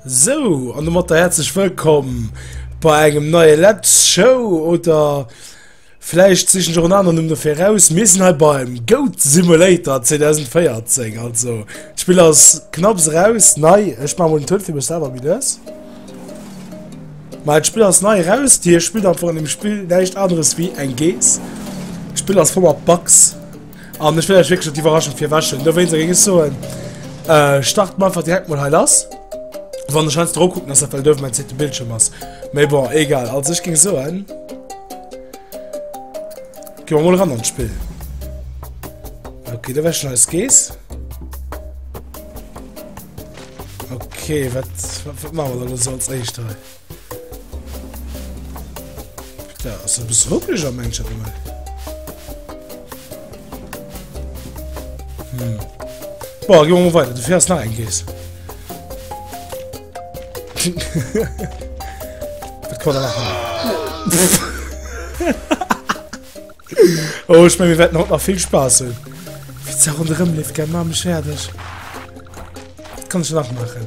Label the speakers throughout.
Speaker 1: Sou, an domat der herzlech wëllkomm bei engem neie Let's Show oder vläicht sichen jo en aneren Numm dofir raus. Mir sinn hei beim Goat Simulator 2014, also d'Spiel ass knapps raus, nei, ech ma mol den Tuerm fir mech selwer méi lues. Ma d'Spiel ass nei raus, Dir spillt einfach an dem Spiel näischt aneres wéi eng Geess. D'Spiel ass voll mat Bugs. An ech wëll lech wierklech net d'Iwwerraschung virwäschen. Dowéinst géing ech soen, äh, starten mer einfach direkt mol hei lass. Wann ech heiansdo erop kucken, ass dat well dofir mäin zweete Bildschirm ass. Mee bon, egal. Also ech géing soen, Gi mer mol eran an d'Spill. Okay, da wär schon eis Gees. Okay, wat, wat, wat machen wir da los als Eischter? Da ass e bësse ruckleg am Englesche gemaach. Hm. Boah, gehen wir mal weiter. Du fährst nach ein Käse. das kann er machen. oh, ich meine, wir werden heute noch viel Spaß haben. Wie es auch rundherum lebt, gell, Mama, fertig. Das kann ich nachmachen.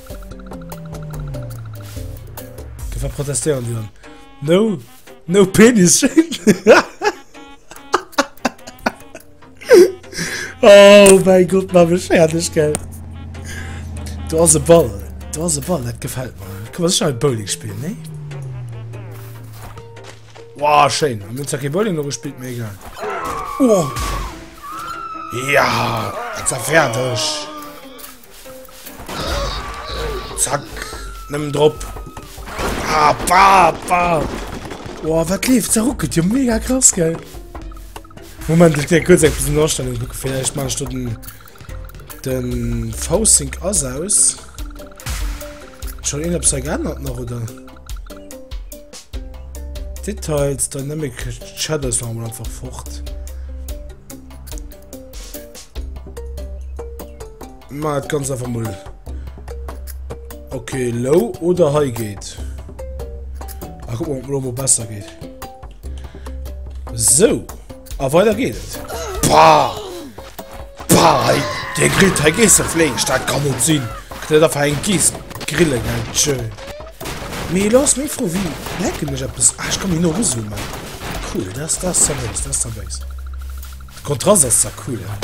Speaker 1: Dofir protestéieren déi dann. No, no Penis Shaming! Oh mäi Gott, maach mech fäerdeg, gell. Do ass e Ball, do ass e Ball, dat gefält mer. Komm, lass schnell Bowling spillen, nee? Wow, schéin. Mir hunn zwar kee Bowling no gespillt, mee egal. Oh! Ja, dat war fäerdeg. Zack. Nëmmen drop. Ah, bah, bah. Boah, wat leeft? Ze ruckelt jo mega krass, gell? Moment, ich gehe kurz ein bisschen Ausstellung gucken. Vielleicht mache ich dort den, den V-Sync aus. aus. Schon irgendwas da geändert noch, oder? Details, Dynamic Shadows waren wir einfach fort. Ma et ganz einfach mul. Okay, low oder high geht. Ach, guck mal, ob Lomo besser geht. So. Aber ah, weiter geht es. Pah! Pah! Der Grill, der geht so flink. Das kann nicht sein. Der darf ein Gieß grillen, ganz schön. Mir los, mir froh, wie lecken ich etwas. Ach, ich kann mich nur rüsseln, Mann. Cool, das, das ist so nice, das ist so nice. De Kontrast ass zwar cool, hä?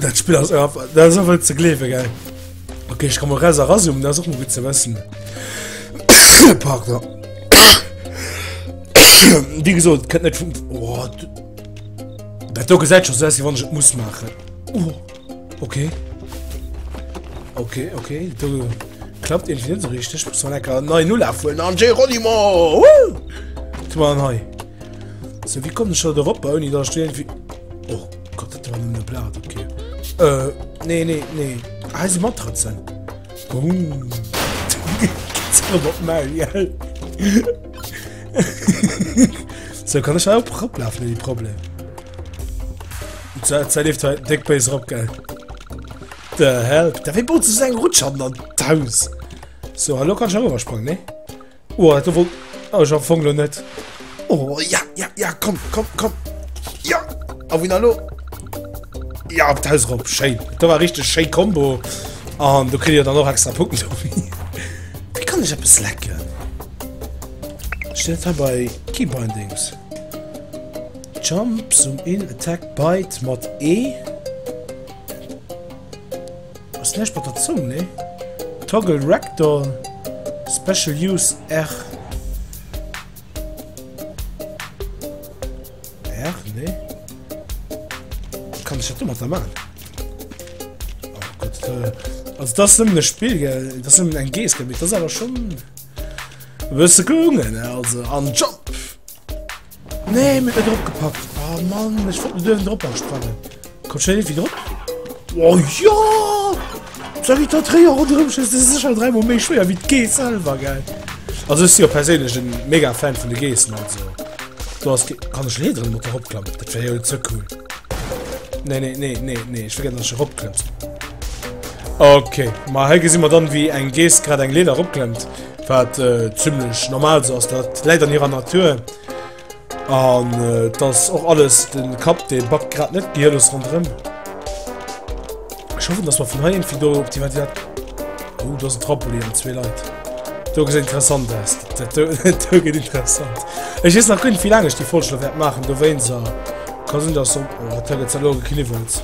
Speaker 1: Dat Spill ass einfach, dat ass einfach net ze gleewen, gell? Okay, ich kann mal Resa rasum, das ist auch mal gut zu wissen. Partner. Wie gesagt, könnt nicht vom. Oh, das da gesagt schon, dass ich muss machen. Oh. Ok. Ok, ok, do klappt irgendwie net so richtig. Muss man lecker nei Null afuelen an Geronimo! Woo! Tu mal hei. So, wie kommt schon derop, ohne da stehen wie... Oh Gott, das war eine Blatt, okay. Äh, nee, nee, nee. Ah, sie Matratzen. Oh. Robot Mario. so, kann ich auch ablaufen, die Problem. Zäit leeft hei déck béis erop, gell? The hell? Da wéi baut sech eng Rutsch an d'Haus? So, hallo kann schon sprangen, ne? Oh, dat wollt... Oh, ich hab Fonglo net. Oh, ja, ja, ja, komm, komm, komm. Ja, a wien hallo? Ja, op d'Haus erop, schön. Da war richtig schön Combo. Und du kriegst ja dann noch extra Punkte. Wie kann ich etwas lecken? Steht da bei Keybindings. Jump, Zoom in, Attack, Bite mat E ass näischt mat der Zong, nee? Toggle Ragdoll, Special Use R, R, nee? Wat kann ech dat domatter maachen? Oh Gott, äh, also dat ass nëmmen e Spill, gell? Dat ass nëmmen eng Gees, gell? Mee dat ass awer schonn e bësse gelungen, also. An Jump! Nee mir drop gepackt oh Mann ich wollte den Dönen drop sprangen kommt schnell irgendwie drop oh ja sorry da drei Euro drin das ist schon drei Mal mehr schwer wie G selber geil also ist ja persönlich ein mega Fan von den Gesen also du hast kann ich nicht drin mit der Hauptklamm das wäre ja zu cool nee nee nee nee nee ich vergesse dass ich Hauptklamm okay mal hier sehen wir dann wie ein Ges gerade ein Leder abklemmt Wat zimlech normal sou ass, dat läit an hirer Natur. An et ass och alles de Kapp, dee backt grad net gehirlos ronderëm. Ech hoffen, dass mer vun hei eng do op déi. Oh, do ass en Trampolin an zwee Leit. Do gesäit interessant aus. Dat do gëtt interessant. Ech weess nach guer net, wéi laang ech déi Folg scho wäert maachen, dowéinst ka sinn, dass se op. Oh, dat Teil gëtt elo gekniwwelt.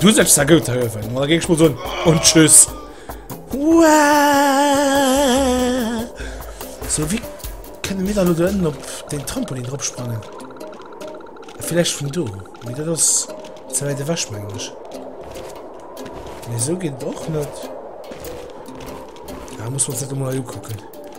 Speaker 1: Du sech sa gout hëllefen oder géng schmol soen und tschüss. So wie kënne mir dann ënnen op den Trampolin drop sprangen? Vielleicht vun do wie dat ass ze wäit ewech menglech. Nee, so geet och net. Da muss man se mal kucken.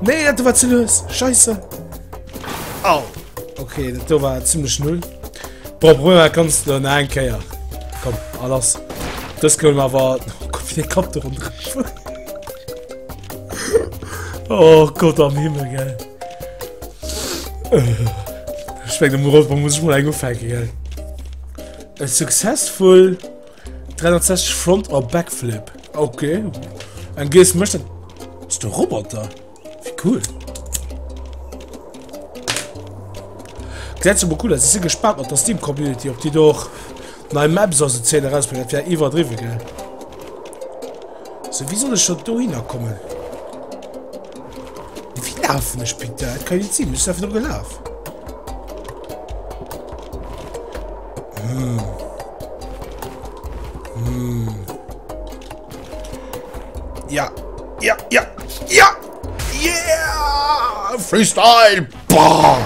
Speaker 1: Nee, dat war ze lues. Scheisse. Au. Okay, dat do war ziemlich null. Boah, Brüder, kannst du noch ein Keier. Komm, alles. Das können wir aber... Oh Gott, wie der Kopf da runter. oh Gott am Himmel, gell. Ich meine, muss ich mal eingefallen, gell. A successful 360 Front or Backflip. Okay. Ein Gees möchte. Ist der Roboter? Wie cool. Gesetz aber cool, sie sind gespannt auf der Steam Community, ob die doch neue Maps aus der Szene rausbringen. Das wäre überdriven, gell? So, wie soll ich schon da hinkommen? Wie laufen ich bitte? Das kann ich nicht sehen, ich bin einfach nur gelaufen. Ja, ja, ja, ja! Yeah! Freestyle! Bam!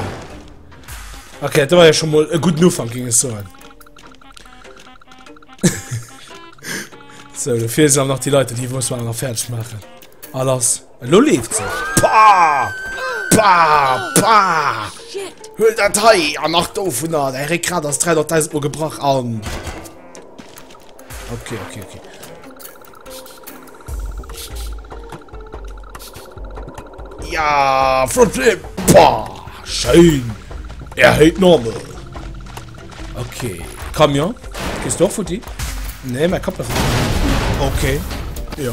Speaker 1: Okay, da war ja schon mal ein guter Anfang, ging es so an. so, dafür sind noch die Leute, die wollen es mal fertig machen. Alles. Elo leeft se! Pah! Pah! Pah! Huel dat hei! An nach dovunner! Däi Réckgrat ass 300.000 Mol gebrach an. Okay, okay, okay. Ja! Frontflip! Pah! Schein! Er hält normal! Okay. Camion? Gehst du auch futti? Nee, mein Kopf ist. Okay. Ja.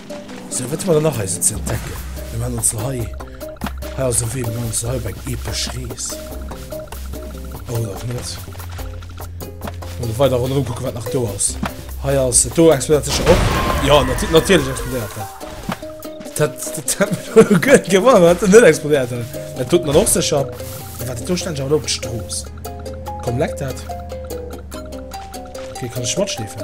Speaker 1: Sou, wat hu mer dann nach eise ze entdecken? Mir man also hei, hei ass e Wee, mir man also hei op eng epesch Rees, oder och net. Ech muss weider ronderëm kucken, wat nach do ass. Hei ass et, do explodéiert sécher och. Jo, nati natierlech explodéiert dat. Dat hätt, dat hätt mech wuel e Guet gewonner, wann dat net explodéiert hätt. Dat doten dann och sécher. Mee wat dat do stänneg awer elo op d'Strooss komm, leckt dat. Okay, kann ech matschleefen?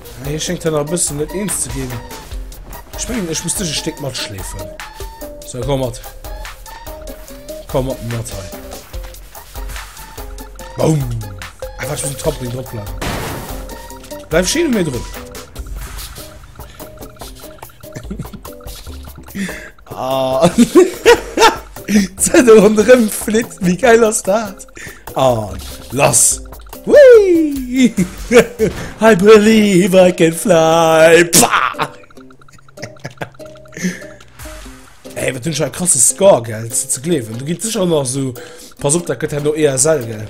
Speaker 1: Hei schéngt hien nach e bëssen net eens ze ginn. Ech mengen, ech muss dech e Stéck matschleefen. Sou, komm mat. Komm mat mir mat hei. Boum! Ah, wat muss den Trampolin drop bleiwen. Bleif schön um mir drun. Ah Zënne ronderëm flitt, wéi geil ass dat? An lass! Wii! I believe I can fly! Pah! Ey, wat hunn ech e krasse Score, gell? Ze gleewen. Du gitt sech an nach sou. Pass op, dat gëtt herno ESL, gell?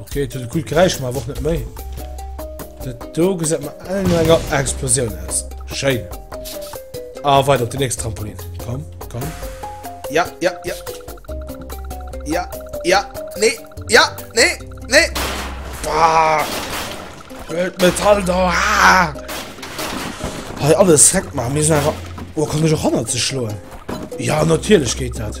Speaker 1: Okay, et huet e coolt Geräisch gemaach, awer och net méi. Dat do gesäit mer all no enger Explosioun aus. Schéin. A ah, weider op de nächst Trampolin. Komm, komm. Ja, ja, ja. Ja, ja, nee, ja, nee, nee. Bah. Mit Metall da. Ah. Hey, alles direkt machen. Wir sind einfach. Oh, kann ich auch 100 zu schlagen? Ja, natürlich geht das.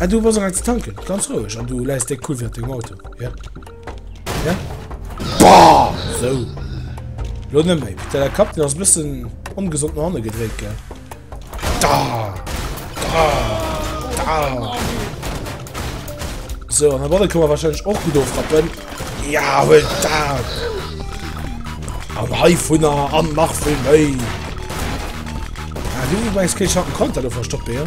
Speaker 1: Ah, du was als tanken ganz ruhig an du leist de cool dem Auto ja? Ja? Boah, so Lo nëmme, der Kap den ass bëssen ongesond no hanne gedréit ge da, da, da. So an der Balle kann man wahrscheinlich och gut ofrappen Ja huet da An hei vunner an nach vun méi ah, Du weis kech hat Konter do verstoppe ja?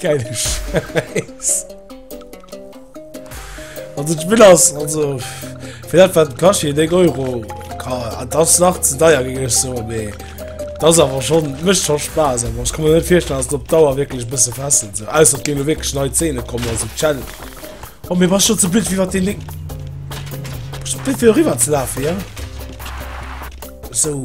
Speaker 1: Geil Scheiß. Also ich will das, also vielleicht war Kashi den Euro. Das sagt zu teuer ging ich so, nee. Das ist aber schon, mischt schon Spaß, aber ich kann mir nicht vorstellen, dass das auf Dauer wirklich ein bisschen fesselt. So. Außer es gehen wirklich neue Zähne kommen, also Challenge. Oh, mir war schon zu blöd, wie war den Link? Ich bin für rüber zu laufen, ja? So.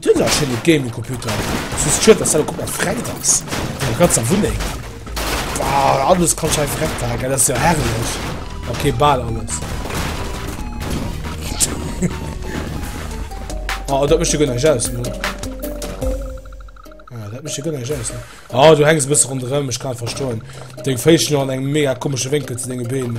Speaker 1: Dir hutt jo anscheinend e Gaming Computer, soss schied dass dat och gudd mat Fränk ass an der ganzer Wunneng. Waw alles kann scho einfach weg paken, dat ass jo herrlech. Ok baal alles. Oh dat mecht jo guer näischt aus elo. Ah dat mecht jo guer näischt aus. Oh du hänks e bësse ronderem, ech kann et verstoen. Deng Féiss sinn jo an engem mega komesche Wénkel zu denge Been.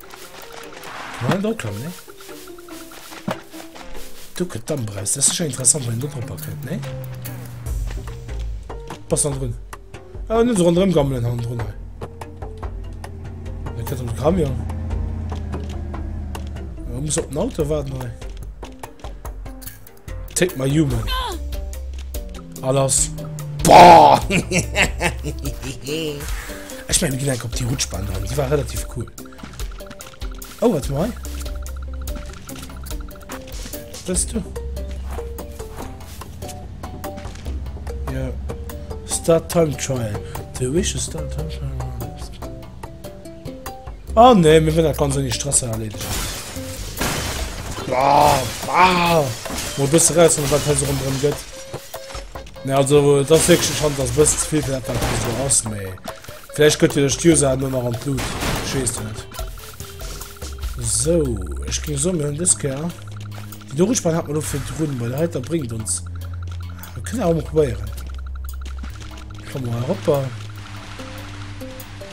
Speaker 1: Well do kann ne Du kënnt dann breus das sche interessant wenn du Papa kënnt ne Pass an run ah, net run rëm gammelen han run kënnt um Kram ja muss op den Auto warten. Hei. Take my human. Alles. Boah! ich meine, wir gehen auf die Rutschbahn dran. Die war relativ cool. Oh, warte mal. Was bist du? Ja. Start Time Trial. The Wish is Start Time Trial. Oh ne, mir wëllen dat ganz ouni Stress erleedegen. Wow, wow. Mo bësse raus an wat se rondrëm gëtt. Ne also dat wéche schon ass bësse ze vill fir dat wat so ass méi. Vläicht gëtt jo de User no nach an d'Lut. Schees du net. So, ech ging so mir hunn dës Ker. Di Dorispann hat man lo fir d'Runn, bei der Heiter bringt ons. Äh, kënne a probéieren. Komm mal eropper.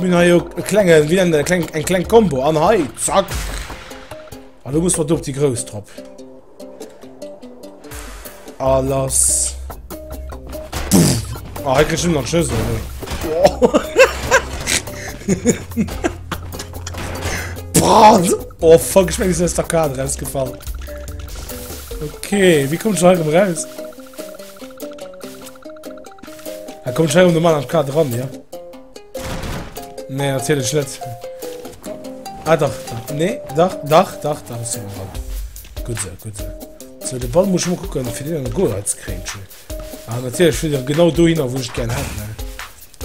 Speaker 1: Mir ha jo e klenge wéi nennt een dat, e kleng eng kleng Combo an hei zack an du muss mat op déi grouss drop a lass a hei kritt ech nach Schëssel ne Brat oh fuck ech meng se ass der Kader ausgefall Okay wie kommt heirem raus Er kommt heirem normal am Kader ran ja. Nee, natürlich nicht. Ah, doch. Nee, doch, doch, doch, doch, ist ein Ball. Gut so, gut so. So, den Ball muss ich mal gucken, für den Goal als Kränchen. Ah, natürlich, für den genau dahin, wo ich gerne hätte, ne?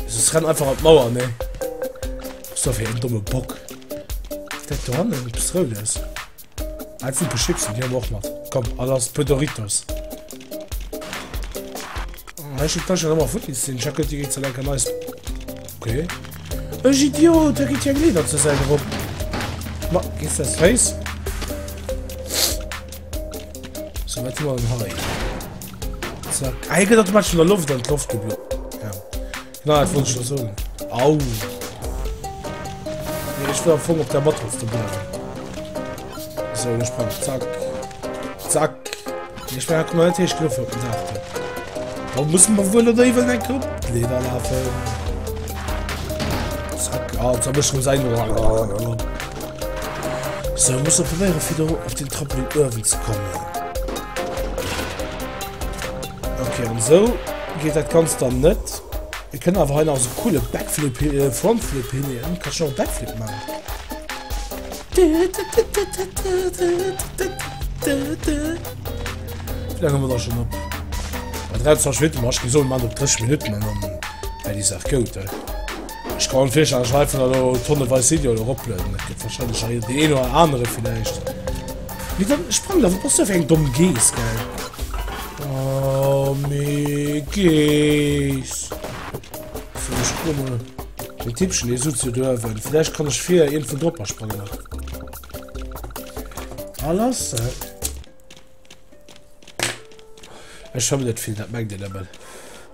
Speaker 1: Also, es rennt einfach an die Mauer, ne? So, für einen dummen Bock. Der Dorn, du bist rot, ist. Eng Fuke Chipsen, déi hu mer och mat. Komm, a lass puer Doritos. Ech hun d'Taschen ëmmer futti sinn. Jacques Gotti geet ze lenken neist. Okay. Ech Idiot, da geet hir Glieder zur Säit erop. Ma, gees des Féiss? So, wat hu mer dann hei? Zack. Hei gëtt automatisch vun der Loft an d'Loft geblo. Nein, dat wollt ech jo soen. Au! Nee, ech wëll am Fong op der Match of the bleiwen. So, ech sprang. Zack. Zack. Nee, ech war komplett héich Griff op den Dach. Da muss man wuel oder iwwel eng Grupp Leder lafen. Zack. Ah, da muss man sein. So, muss man probieren, wieder auf den Trampolin Irwin zu kommen. Okay, und so. Geet dat ganzt dann net? Et kënnt awer hei nach esou coole Backflip äh Frontflip hin hien kann schon Backflip man. Wéi laang hu mer da schon op? Bei 23 Minutten, ma ech gi soen man op 30 Minutten an dann wär déi Saach goud. Ech kann mer virstellen, dass ech einfach elo tonneweis Videoen eroplueden. Dat gëtt warscheinlech nach een, dee een oder anere villäicht. Mee dann sprang da, wat bass du fir eng domm Geess, gell? Oh, mee Geess. Fir mech kummel. Den Tippchen, dee sutzt jo duerwen. Villäicht kann ech fir iergendwou drop asprangen nach. Ah, lass se. Ech vermëllet vill, dat mengt een nëmmen.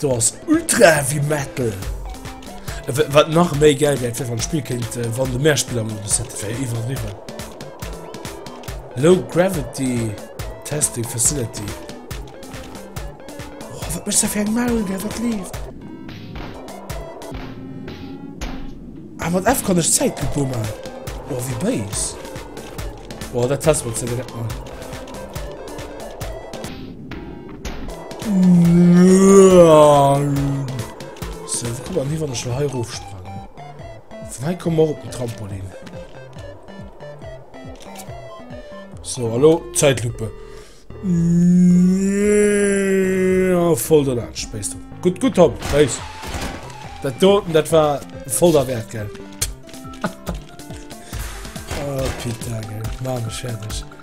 Speaker 1: Do ass ultra heavy metal. Wat nach méi geil wärt fir wann Spiel kéint äh, wann de Mehrspieler Modus hätte wär iwwer niwwer. Low Gravity Testing Facility. Oh, wat mech fir eng Maul der wat lief. Ah, mat F kann ech Zäit gebummer. Oh, wie Base. Oh, dat test wat ze net man. So, wo kommen wir hier, wenn ich mal hier hochspringen? Von hier kommen wir auf den Trampolin. So, hallo, Zeitlupe. Ja, voll der Land, spähst du. Gut, gut, Tom, weiß. Das Doten, das war voll der Wert, gell? oh, Peter, gell? Mann, ich fertig.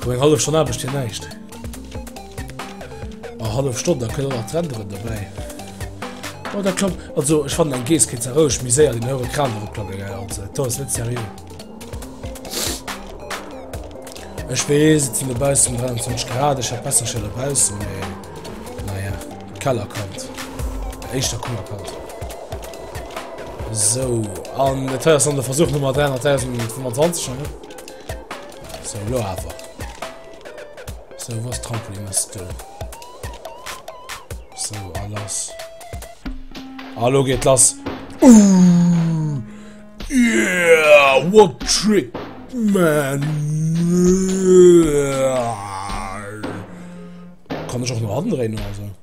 Speaker 1: An eng hallef Stonn aarbecht hien näischt. A hallef Stonn, da kënne nach d'Renderen dobäi. Oh, da komm, also ech fannen eng Geess kéint se roueg méi séier den heuren Kran erop klappe gell, also do ass net seriö. Ech weess, et sinn dobaussen 23 Grad, ech hätt besser scho dobaussen, mee naja, Keller kommt. Éischter Kummer kommt. So, an et hei ass dann de Versuch Nummer 300.025, ne? Sou, lo awer. Sou, wou ass d'Trampoline? Ass do. Sou, a lass. A lo geet lass. Uuuh! Yeah! What trick, man! Kann ech och no hannen dréinen oder sou?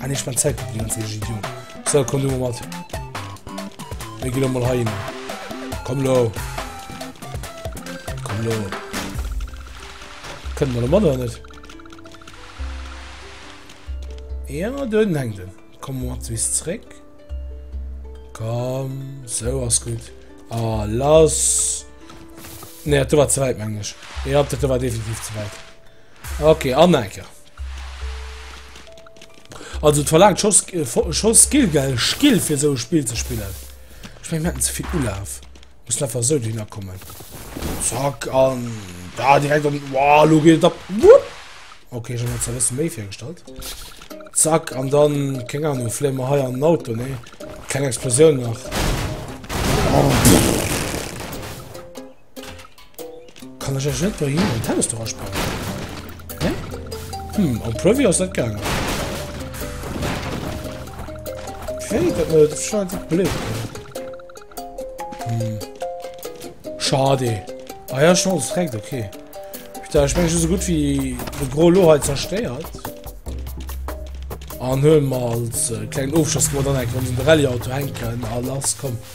Speaker 1: Ah nee, ich mein Zeit die ganze Geschichte, Junge. So, komm du mal mit. Wir gehen mal heim. Komm lo. Komm lo. Können wir mal oder nicht? Ja, dann hängt er. Komm mal zu uns zurück. Komm, so was gut. Ah, lass. Ne, du war zu weit, meine ich. Ja, das war definitiv zu weit. Okay, Anmerker. Also et verlaangt scho scho Skill gell Skill fir esou e Spill ze spillen. Ech meng mir hätten ze vill Ulaf. Mussen einfach esou dohinner kommen. Zack an da direkt an wow, lo geet et ab. Okay, ech hab mir zwar e bësse méi virgestallt. Zack an dann, keng Ahnung, fléien mer hei an den Auto, nee? Kleng Explosioun nach. Oh. Kann ech ech net do hin den Tennis dora spannen? Ne? Hm, am Preview ass dat gang. Okay, dat net äh, scheint net blit. Hm. Schade. Ah ja, schon alles direkt, okay. Da ich meng so gut wie de Gro Loheit zerstéiert. An hö mal äh, klein Ofschoss wo dann eng Rallye Auto henken a lass kommen.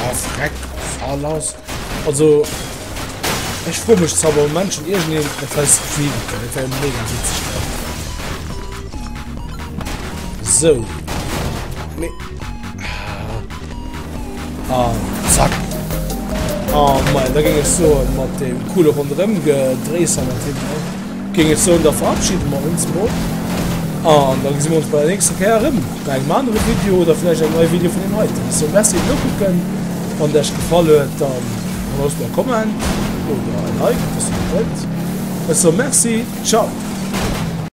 Speaker 1: Ah, freck, fall ass. Also, ech froe mech zwar, warum Menschen irgendeem etwas bieden können. Das wäre mega witzig. So. Me ah. ah, zack. Ah, mein, da ging es so mit dem coolen rundherum gedreht, mit dem. Géing ech soen, da verabschiede mer ons emol an da gesi mer ons bei der nächster Kéier erëm bei engem anere Video oder vläicht engem neie Video vun deem heiten. Ech soe Merci fir d'Nokucken. Wann et Iech gefall huet, dann hëllerscht mer e Comment oder e Like, ob Dir esou wëllt. Ech soe Merci. Ciao.